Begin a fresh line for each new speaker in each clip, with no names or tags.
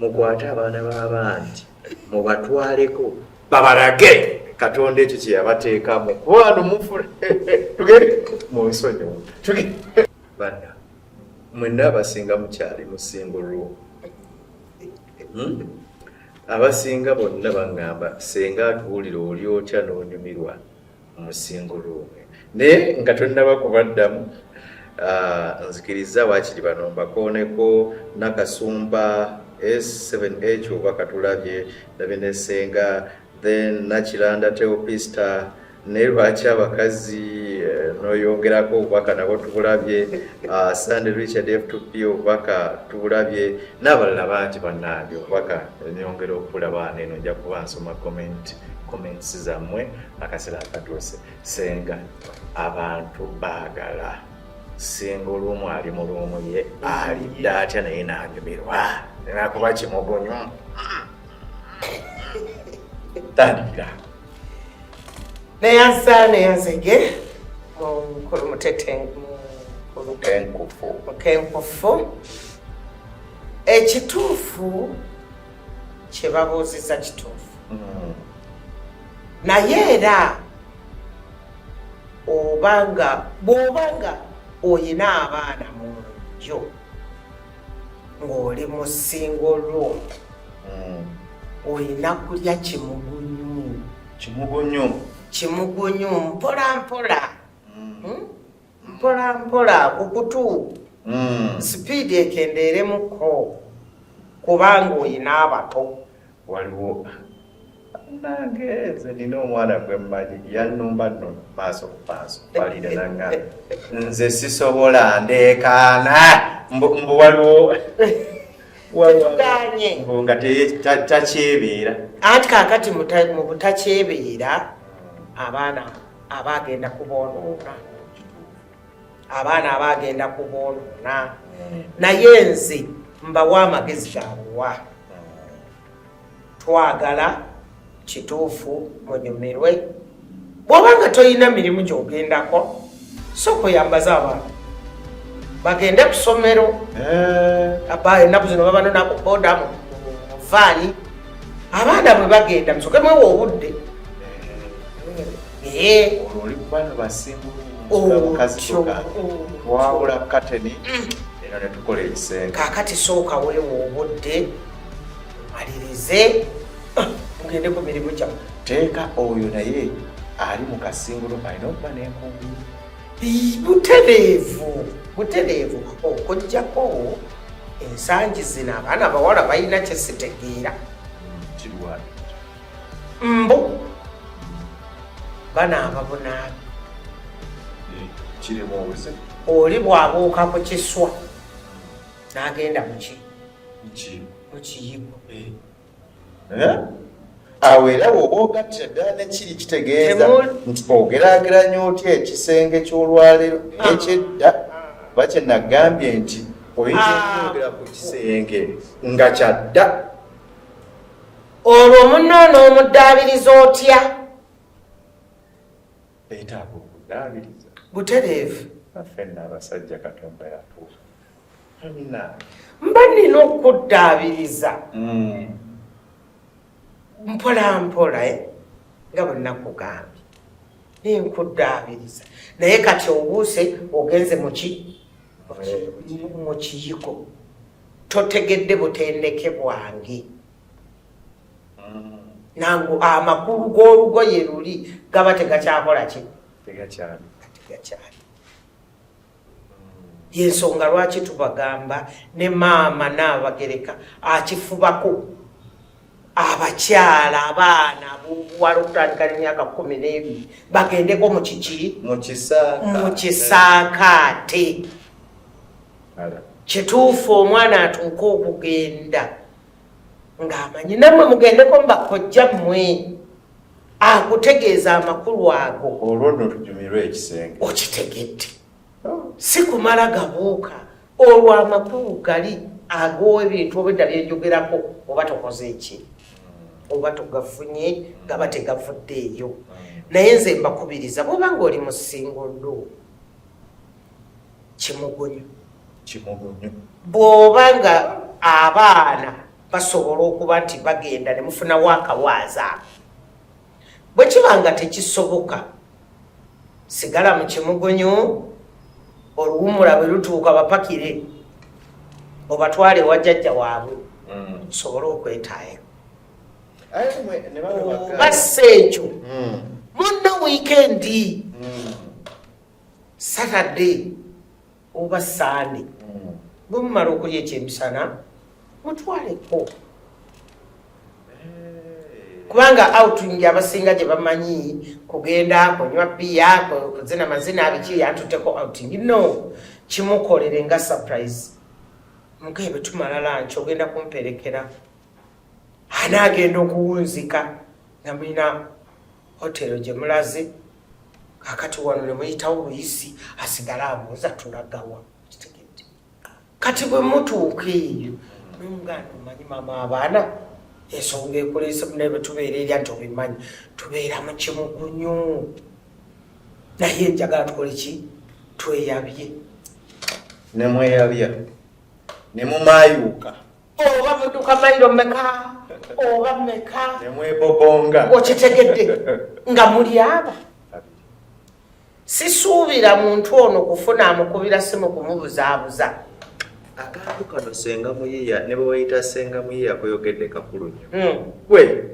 mukwate abaana b'abanti mubatwaleko babalage katonda ekyo kye yabateekamu kubano mufule tugende mu nsonyi bana mwenna abasinga mukyali musingo lwo hmm? abasinga bonna baŋŋamba senga atuwulira oli otya n'onyumirwa mu single room naye nga tonnaba kubaddamu ah, nzikiriza waakiri bano mbakooneko nakasumba s7h oba katulabye ndabye nesenga then nakiranda teopista naye lwaki abakazi eh, noyongerako obubaka nabo tubulabye ah, sande richard f2p obubaka tubulabye n'abalala bangi bannange obubaka nyongera okubulaba neno nja kuba nsoma comment comments zammwe akasera akatuuse senga abantu baagala singa olumu ali mu lumu ye alidde atya naye nanyumirwa nakuba kimugonyo tandikira
neyansa neyazege mukulu mutetenkufu ekituufu kyebabuuziza kituufu mm. naye era obanga bwobanga oyina abaana mu nju ng'oli mu single room mm. olina kulya kimugunyu kimugunyu kimugunyu mpola mpola mm. hmm? mpola mpola ku kutu hmm. sipiidi ekendeeremuko kubanga olina abato waliwo
nange nze nina omwana gwe mmanyi yannumba nno maaso ku maaso balire nanga nze sisobola ndeekaana mbu waliwo tetuganye mbu nga takyebeera anti kakati
mu butakyebeera abaana aba agenda kuboonoona abaana aba agenda kuboonoona naye nze mbawa amagezi gabuwa twagala kituufu munyumirwe bwoba nga tolina mirimu gyogendako sooka oyambaze abantu bagende ku ssomero eh. aba enaku zino babanona ku bodamu muvaani abaana bwe bagenda musoke mwewa obudde
twawula kateni mm. eno netukola ekisenge kakati sooka
weewa obudde omalirize ah, mugende ku mirimu gyamu teeka oyo
naye ali mu kasingulu alina okuba nenkumbi butereevu
butereevu okujjako ensangi zino abaana bawala balina kyesitegeera mbu banaaba bunaabi oli bwabuuka ku kiswa n'agenda muki mukiyigo eh.
eh? awo era woba ogattira ddala nekiri kitegeeza nti ogerageranya otya ekisenge ky'olwaleero ah. nekyedda kuba ah. kyenagambye nti oyinza ah. okwogera ku kisenge nga kyadda
olwo munno n'omuddaabiriza otya
beetaaga okudaabiriza butereevu
afenna
abasajja katonda yatuufu amina
mba nina okuddaabiriza hmm. mpolampola eh, nga bwenakugambye naye nkuddaabiriza naye kati obuuse ogenze muki mu kiyiko totegedde butendeke bwange nangu amakulu g'olugoye luli gaba tegakyakola ki tegakyali yensonga lwaki tubagamba ne maama naabagereka akifubako abakyala abaana abobuwala okutandika nemyaka kumi n'ebiri bagendeko mu kiki mu kisaakaate kituufu omwana atuuka okugenda ng'amanyi nammwe mugendeko mu bakojja mmwe akutegeeza amakulu ago olwo nno tunyumirwe
ekisenge okitegedde
si kumala gabuuka olwo amakulu gali ag'ebintu obwedda byenjogerako oba tokoze eki oba togafunye gaba tegavudde eyo naye nze mbakubiriza bwoba nga oli mu singoldo kimugunyu bw'oba nga abaana basobola okuba nti bagenda ne mufunawo akawaaza bwe kiba nga tekisoboka sigala mu kimugunyu oluwumula bwe lutuuka bapakire obatwale ewa jjajja waabwe mm. osobole okwetaaya bassa ekyo mm. munno wiikendi mm. saturday oba saande mm. bwe mumala okulya ekyemisana mutwaleko kubanga outing abasinga gye bamanyi kugenda kunywa biya kuzina mazina abiki yantuteko outing no kimukolere nga surprise mukee bwe tumala lanki ogenda kumperekera anaagenda okuwunzika nga mulina hotero gye mulaze kakati wano nemuyitawo luyisi asigale abuuza tulagawa kitegedde kati bwe mutuuka eyo nomuganda omanyi mama abaana ensonga ekulese munaye bwetubeera erya nti obimanyi tubeera mu kimugunyu naye njagala tukole ki tweyabye
nemweyabya nemumayuuka oba muduka
mailo meka oba meka nemwebobonga
okitegedde
nga muli aba sisuubira muntu ono kufuna amukubira simu kumubuzaabuza akantu
kano senga muyiya ne bweweyita senga muyiya koyogedde kakulu nyo hmm. gwe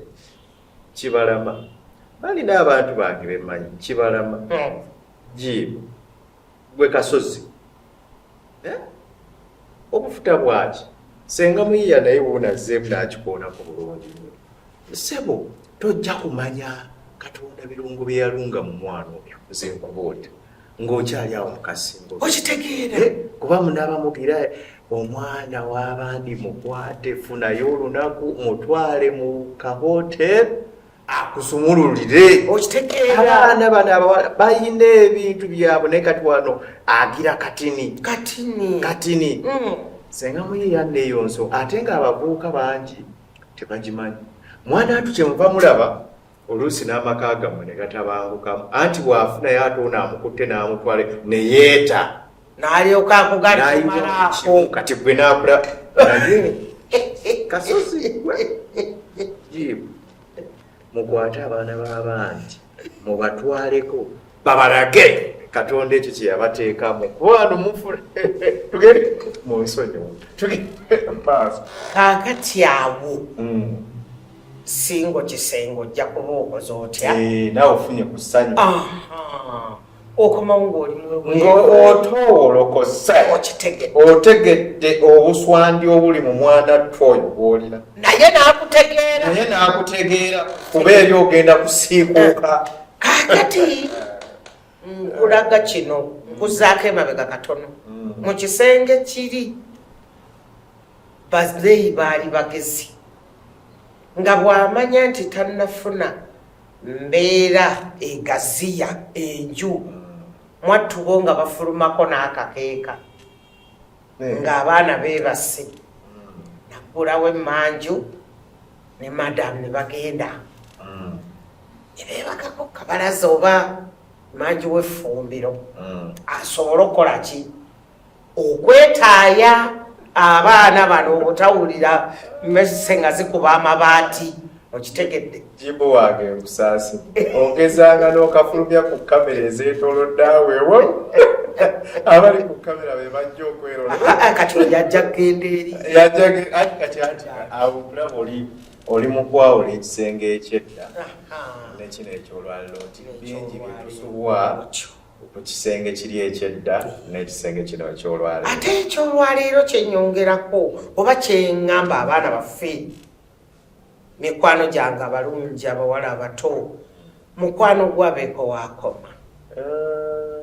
kibalama balina abantu bange bemanyi kibalama hmm. jiibu gwe kasozi eh? obufuta bwaki senga muyiya naye wonazeemu nakikoonako bulungi nyo sebo tojja kumanya katonda birungo byeyalunga mu mwana oyo nze nkubuulira ng'okyali awo mukasingo okitegeera eh,
kuba munabamugira
omwana w'abandi mukwate funayo olunaku mutwale mu kahotel akusumululire okitegeeraabaana
bano abawala
balina ebintu byabwe naye kati wano agira katini katini katini mm. senga muyiyanna eyo nso ate nga abavubuka bangi tebagimanyi mwana atu kyemuva mulaba oluusi n'amaka gamwe ne gatabangukamu anti bw'afunayo ate ono amukutte n'amutwale ne yeeta nalyoka
akugalimalaako kati gwe nakula
kasozi mukwate abaana b'abangi mubatwaleko babalage katonda ekyo kyeyabateekamu kubano mufule tugende mu nsonyiwo tugende maaso kakati
awo mm. singo kisengo ojja kuba okoze otya eh, nawe ofunye ku
ssanyu okomawo
ng'oli ng'otoowolokose
otegedde obuswandi obuli mu mwana ttu oyo gwolina naye n'akutegeera
naye n'akutegeera kuba eri ogenda
kusiikuuka eh, kakati
nkulaga kino nkuzaako emabega katono mm. mu kisenge kiri bazeeyi baali bagezi nga bw'amanya nti tannafuna mbeera egaziya enju mwattubo nga bafulumako n'akakeeka eh. ng'abaana beebase nakulawo emmanju ne madamu ne bagenda mm. ne beebakako kabalaza oba manju w'effumbiro mm. asobole okukola ki okwetaaya abaana bano obutawulira mese nga zikuba amabaati okitegedde jibu wange
nkusaasi ogezanga n'okafulumya ku kamera ezeetolodde awewo abali ku kamera be bajja okwerona ah, ah, kati oyo yajja
kugenda eri kati
ati awokulaba oli oli mu kwawula ekisenge ekyedda nekino ekyolwaliro nti bingi byetusubwa ku kisenge kiri ekyedda n'ekisenge kino ekyolwaleero ate ekyolwaleero
kyenyongerako oba kyeŋŋamba abaana baffe mikwano gyange abalungi abawala abato mukwano gwabeeko waakoma eh,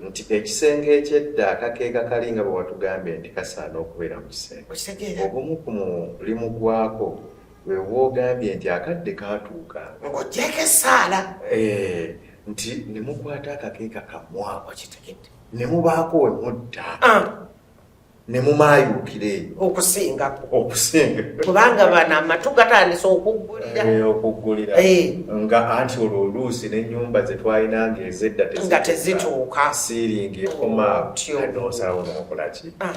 nti ekisenge ekyedda akakeeka kali nga bwe watugambye nti kasaana okubeera mu kisenge ogumu ku mulimu gwako wewogambye nti akadde katuuka ng'ogyeko
essaala eh,
nti ne mukwata akakeeka kammwako kitegedde ne mubaako we mutta ah. ne mumayuukira eyo okusingako
okusinga kubanga bano amatu gatandise okuggulira eh, okuggulira eh. nga
anti olwo oluusi n'ennyumba ze twalina nga ezedda nga tezituuka
siiringi ekoma
nosalawo nokolaki ah.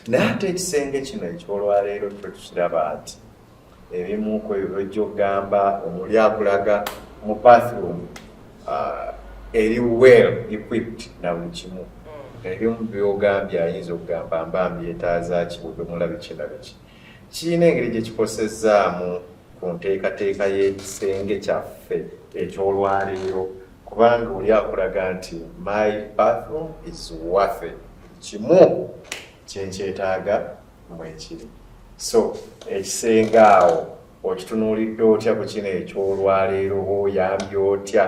naye ate ekisenge kino ekyolwaleero twe tukiraba nti ebimu ku ebyo byojja okugamba omuli akulaga mu bathroom uh, eri well equipped na buli kimu ebimu byogambye ayinza okugamba mba mbyetaazaki budomola biki na biki kirina engeri gye kikosezaamu ku nteekateeka y'ekisenge kyaffe eky'olwaleero kubanga oli akulaga nti my bathroom is worthy kimu kyenkyetaaga mwekiri so ekisenga awo okitunuulidde otya ku kino ekyolwaleero oba oyambye otya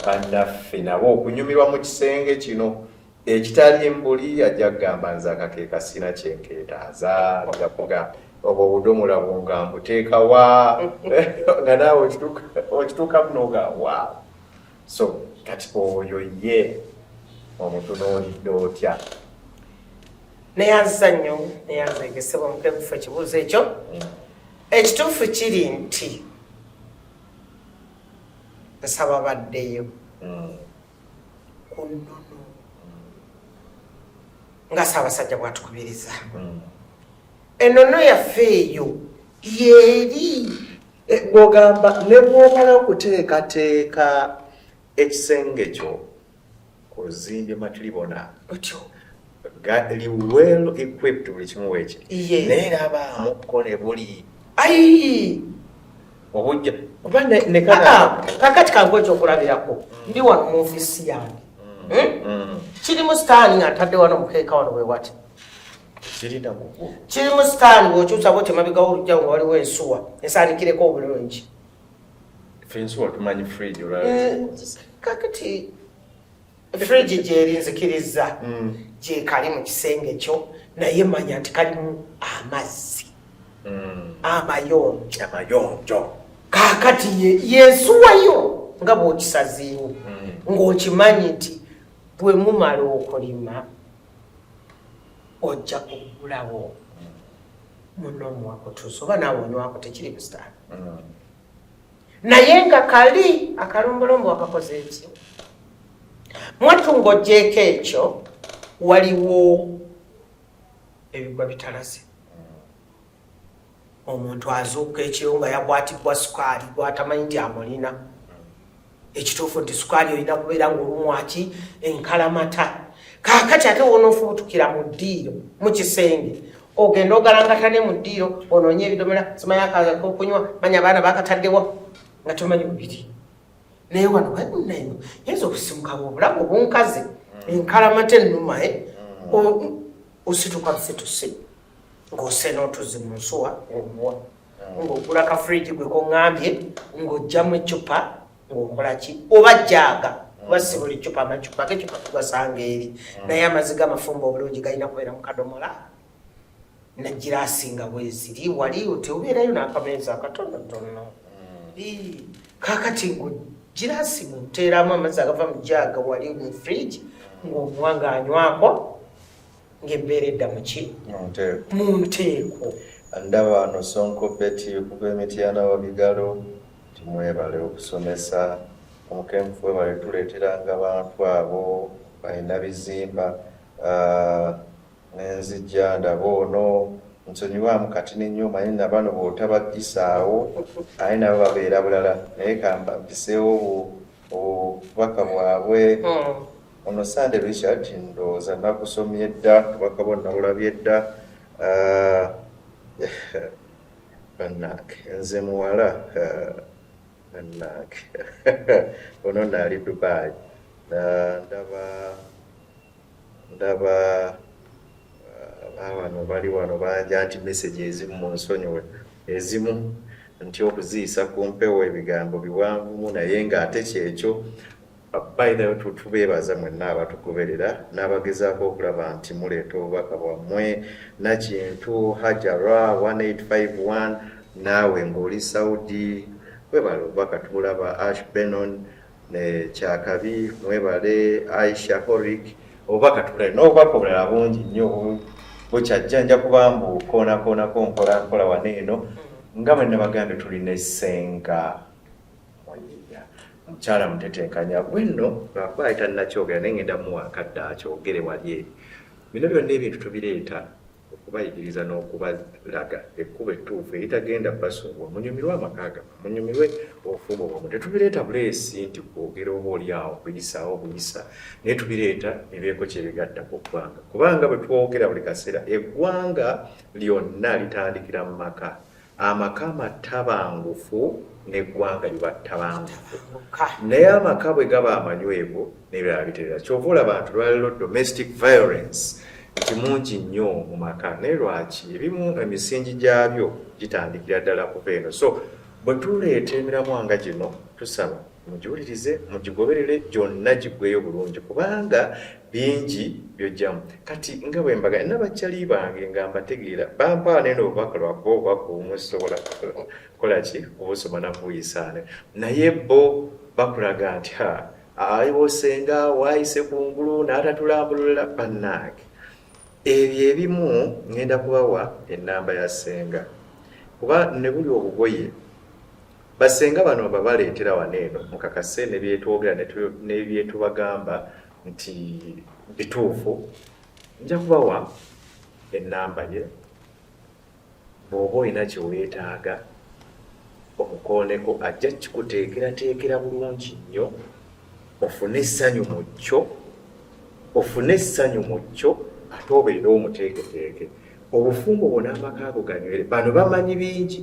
bannaffe nabo okunyumirwa mu kisenge kino ekitali mbuli ajja kugamba nze akakeeka sina kyenkeetaaza ajakuga obwo obudomola bwonga mbuteeka wa nga naawe okituukamu noga wa so kati oyo ye omutunuulidde otya neyanziza
nnyo neyanza egesebwa mukebufu ekibuuzo ekyo ekituufu kiri nti nsaba baddeyo mm. ku nnono nga saabasajja bwatukubiriza mm. enono yaffe eyo yeeri eh,
gwogamba ne bwomala okuteekateeka ekisenge kyo ozimbye matilibona otyo
gali
well equipped buli kimu wekye naye laba amukole buli ayi obujja oba nekana ah, ah,
kakati kangu ekyokulabirako mm. ndi wano mu ofisi yange mm. hmm? mm. kiri mu sitaani nga ntadde wano mukeeka wano wewati kiri mu sitaani wokyusa bwotyo mabigawo olujja nga waliwo ensuwa esaanikireko obulungi
fensi watumanyi fridge olwaki eh, kakati
fridge gyeri nzikiriza hmm. gyekali mu kisenge kyo naye manya nti kalimu amazzi hmm. amayonjo amayonjo kakati yensuwayo nga bwokisaziiwo hmm. ng'okimanyi nti bwe mumala okulima ojja kugulawo muno muwakutuusa oba naawe onywako tekiri busitaani mm. naye nga kali akalombolombo wakakoze eki mwattu ng'ogyeko ekyo waliwo ebigwa bitalase omuntu azuuka ekiro nga yakwatibwa sukaali gwatamanyi nti amulina ekituufu nti sukaali olina kubeera ngaolumwaki enkalamata kakati ate wonoofubutukira mu ddiiro mu kisenge ogenda ogalangata ne mu ddiiro onoonye ebidomola simayakaokunywa manya abaana bakataddewa nga tomanyi bubiri naye wano babunaino yinza okusimukawo obulamu obunkazi enkalamata ennumae eh? mm. osituka busitusi ng'osse n'otuzzi mu nsuwa ng'omuwa ng'ogula ka fridge gwe kongambye ng'oggyamu eccupa ng'okola ki oba jjaaga kuba si buli ccupa amacupa geccupa tugasanga eri mm. naye amazzi g'amafumba obulungi galina kubeera mu kadomola nagirasinga bweziri wali oti obeerayo n'akameeza akatonotono mm. kakati ngo girasi muteeramu amazzi agava mu jaaga wali mu fridge ng'omuwa ng'anywako ng'ebbeera edda mu ki mu nteeko ndaba ano
sonko beti okuva emityana wa bigalo timwebale okusomesa omukenfu webale tuleeteranga abantu abo balina bizimba ah, nenzijja ndaba ono nsonyiwamu kati nenyo omanyi nabano bwotabagisaawo aye nabo babeera bulala naye kambabiseewo obubaka bwabwe hmm. ono sande richard ndowooza nagusomye dda obubaka bwo nabulabye dda ah, banange nze muwala ah, banange ono naali dubai ah, ndaba ndaba uh, abano bali wano bangi anti message ezimu mu nsonyiwe ezimu nti okuziyisa ku mpewo ebigambo biwanvumu naye ng'ate kyekyo bayinayo tubeebaza mwenna abatugoberera n'abagezaako okulaba nti muleeta obubaka bwammwe nakintu hajara 1851 naawe ng'oli saudi webala obubaka tubulaba ash benon ne kyakabi mwebale aisha horik obubaka tukale n'obubaka obulala bungi nnyo bukyajja nja kuba mbu koonakoonako mpola mpola wano eno nga bwe nabagambye tuli ne senga munyinya mukyala mutetenkanya bwenno lwakuba ayita nnakyogera naye ngenda muwa akadde akyogere wali eri bino byonna ebintu tubireeta okubayigiriza n'okubalaga ekkubo ettuufu eritagenda basubwa munyumirwe amaka gama munyumirwe obufumbo bwamu tetubireeta buleesi nti kwogera oba oli awo kuyisaawo buyisa naye tubireeta ebeeko kyebigatta ku ggwanga kubanga bwe twogera buli kaseera eggwanga lyonna litandikira mu maka amaka amattabangufu n'eggwanga liba ttabangufu naye amaka bwe gaba amanywevu nebirala biterera kyova olaba nti lwaliro domestic violence nti mungi nnyo mu maka naye lwaki ebimu emisingi gyabyo gitandikira ddala kuva eno so bwe tuleeta emiramwa nga gino tusaba mugiwulirize mugigoberere gyonna giggweyo bulungi kubanga bingi byojjamu kati nga bwe mbaga nabakyali bange nga mbategeera bampaa nene obubaka lwakuba obubaka obumu sisobola kukola ki kubusoma nakubuyisaane naye bo bakulaga nti ha aliwosenga waayise ku ngulu n'atatulambulula bannaange ebyo ebimu ŋŋenda kubawa ennamba ya ssenga kuba ne buli obugoye Bassenga bano babaleetera wano eno mukakase ne byetwogera ne byetubagamba nti bituufu nja kubawa ennamba ye bw'oba olina kye weetaaga omukooneko ajja kikuteekerateekera bulungi nnyo ofune essanyu mu kyo ofune essanyu mu kyo ate obeere omuteeketeeke obufumbo bwona amaka ago ganywere bano bamanyi bingi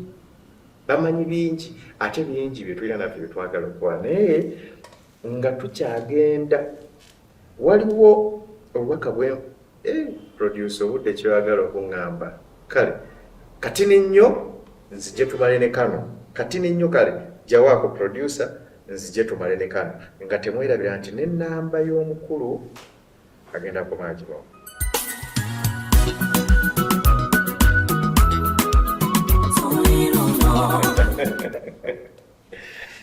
bamanyi bingi ate bingi byetulina naffe byetwagala okukola naye nga tukyagenda waliwo obubaka bwe eh, produce obudde kyoyagala okuŋŋamba kale kati ninnyo nzije tumale ne kano kati ninnyo kale jawaako producer nzije tumale ne kano nga temwerabira nti nenamba y'omukulu agenda kukomaa kibawo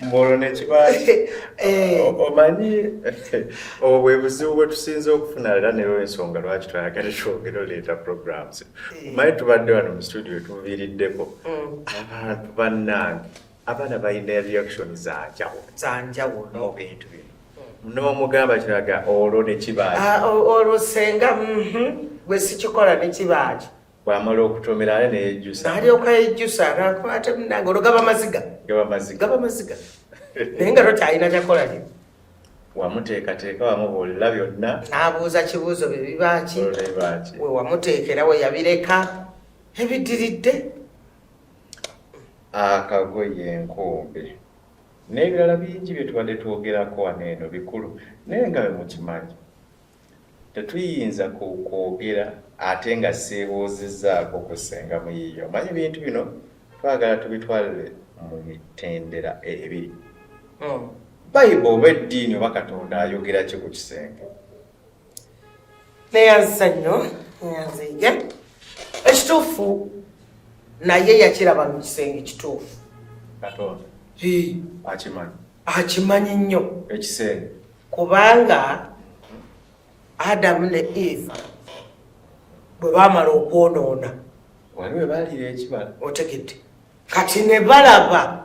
mbolo nekibaaki eh. omanyi obwo bwe buzibu bwe tusinze okufuna era nero ensonga lwaki twayagala twogera oleeta programs eh. omanyi tubadde wano mu studio tuviiriddeko mm. abantu bannange abaana balina reaction zanjawo zanjawo no bintu bino hmm. nomugamba kiraga olwo nekibaaki ah, olwo senga
mhm. gwe sikikola nekibaaki bwamala okutomera
ale neyejusa alyoka yejusa
nakwate munange olwo gaba maziga gaba maziga naye nga tokyalina kyakola lyo wamuteekateeka
wamubuulira byonna n'abuuza kibuuzo
bye bibaaki we wamuteekera we yabireka ebidiridde
akagoye enkumbi n'ebirala bingi bye tubadde twogerako wano eno bikulu naye nga bwe mukimanyi tetuyinza kwogera ate nga seebuuzizzaako ku ssenga muyiiya omanyi bintu bino twagala tubitwalire mu mitendera ebiri hmm. bayibu oba eddiini oba katonda ayogera ki ku kisenge
neyanzisa nnyo neyanziige ekituufu naye yakiraba mu kisenge kituufu akimanyi nnyo ekisenge
kubanga
adamu ne eva bwe baamala okwonoona
otegedde
kati ne balaba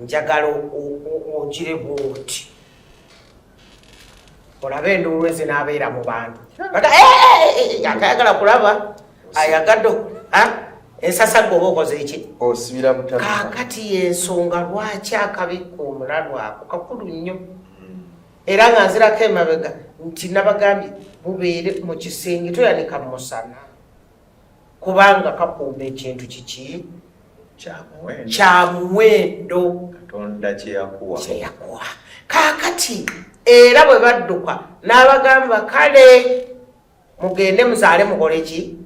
njagala ogire bwoti olabe enduulu ezinaabeera mu bantu akayagala kulaba ayagadde ensasagga oba okoze eki osibira butaka
kakati yensonga
lwaki akabikka omulalu ako kakulu nnyo hmm. era nga nzirako emabega nti nabagambye mubeere mu kisenge toyanika musana kubanga kakuuma ekintu kiki kyamuwendo katonda
kyeyakuwa
kakati era bwe badduka n'abagamba kale mugende muzaale mukole ki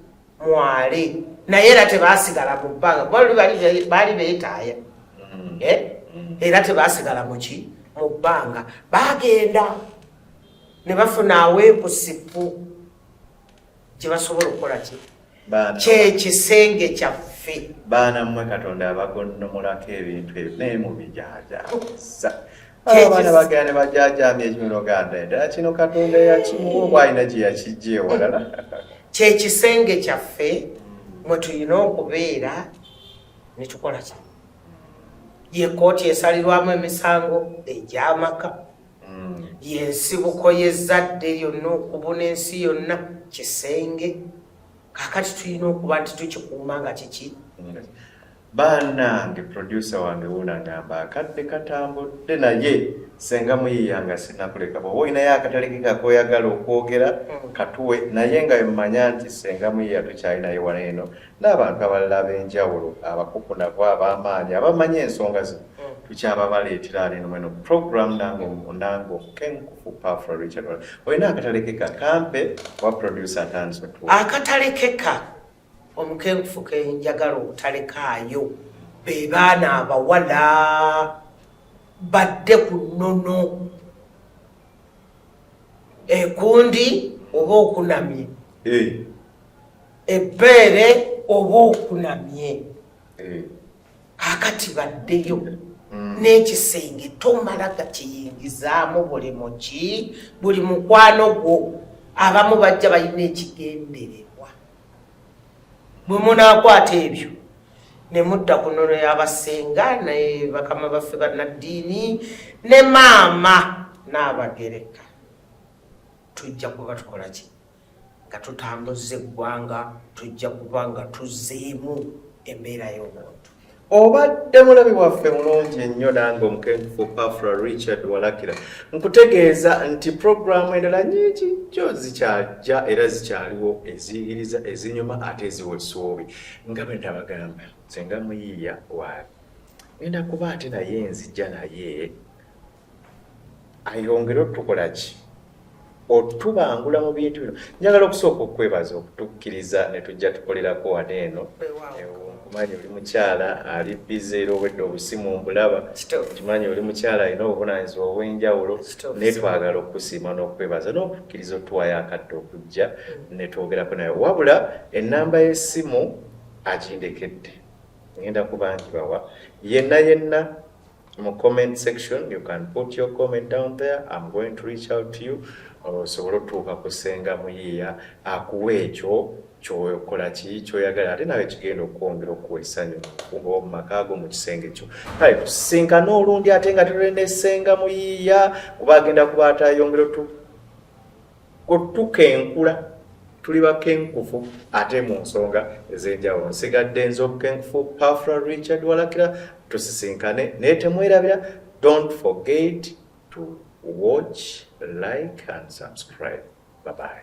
mwale naye era tebasigala mu bbanga kuba luli baali beetaaya mm. eh? mm. era tebasigala muki mu bbanga bagenda ne bafuna aweekusipu kyebasobola okukola ki kyekisenge kyaffe baana mmwe katonda
abagonnomulako ebintu ebyo naye mubijajaza abaana bagenda ne bajajamya ekimunoganda endala kino katonda yakimuwa oba alina gye yakijja ewalala kyekisenge
kyaffe mwe tulina okubeera ne tukola kino ye kkooti esalirwamu emisango egyamaka yensibuko yezadde lyonna okubuna ensi yonna kisenge kakati tulina okuba nti tukikuuma nga kiki banange
producer wange wunagamba akadde katambudde naye senga muyiyanga sinakuleka bwoba olinayo akatalikekakoyagala okwogera mm. katuwe naye nga emanya nti senga muyiya tukyalinayo wano eno n'abantu abalala ab'enjawulo abakukunavu ab'amaanyi abamanyi ensonga zino mm. tukyababaleetera ali nomweno program nange nange omukenkufu pafra richard olina akatalekeka kampe wa producer atandise otu akatalekeka
omukenkufu kenjagala obutalekaayo be baana abawala badde ku nnono ekundi oba okunamye eh. ebbeere oba okunamye eh. akati baddeyo mm. n'ekisenge tomala gakiyingizaamu buli muki buli mukwano gwo abamu bajja balina ekigendererwa bwe munaakwata ebyo ne mudda ku nono y'abasenga ne bakama baffe bannaddiini ne maama n'abagereka tujja kuba tukola ki nga tutambuzza eggwanga tujja kuba nga tuzzeemu embeera y'obuntu obadde
mulabi waffe mulungi ennyo nange omukenkufu pafra richard walakira nkutegeeza nti puroguramu endala nyingi jo zikyajja era zikyaliwo eziyigiriza ezinyuma ate eziwa essuubi nga bwe ndabagamba senga muyiiya waabi enda kuba ate naye nzija naye ayongere otukola ki otubangula mu bintu bino njagala okusooka okwebaza okutukkiriza ne tujja tukolerako wano eno nkimanyi oli mukyala ali bize era obwedde obusimu mbulaba nkimanyi oli mukyala alina obuvunanyizibwa obw'enjawulo naye twagala okukusiima n'okwebaza n'okukkiriza otuwayo akadde okujja mm. ne twogerako naye wabula ennamba y'essimu agindekedde ngenda kubangibawa yenna yenna mu comment section you can put your comment down there i'm going to reach out to you osobole otuuka ku senga muyiiya akuwa ekyo kyokola ki kyoyagala ate nawe kigenda okwongera okuwa essanyu kuba mu maka ago mu kisenge kyo kale tusinkana olundi ate nga tulina essenga muyiiya kuba agenda kuba atayongera otu Otukenkula tuli bakenkufu ate mu nsonga ez'enjawulo. Nsigadde nze obukenkufu Pafra Richard Walakira, tusisinkane naye temwerabira, don't forget to watch, like and subscribe. Bye bye.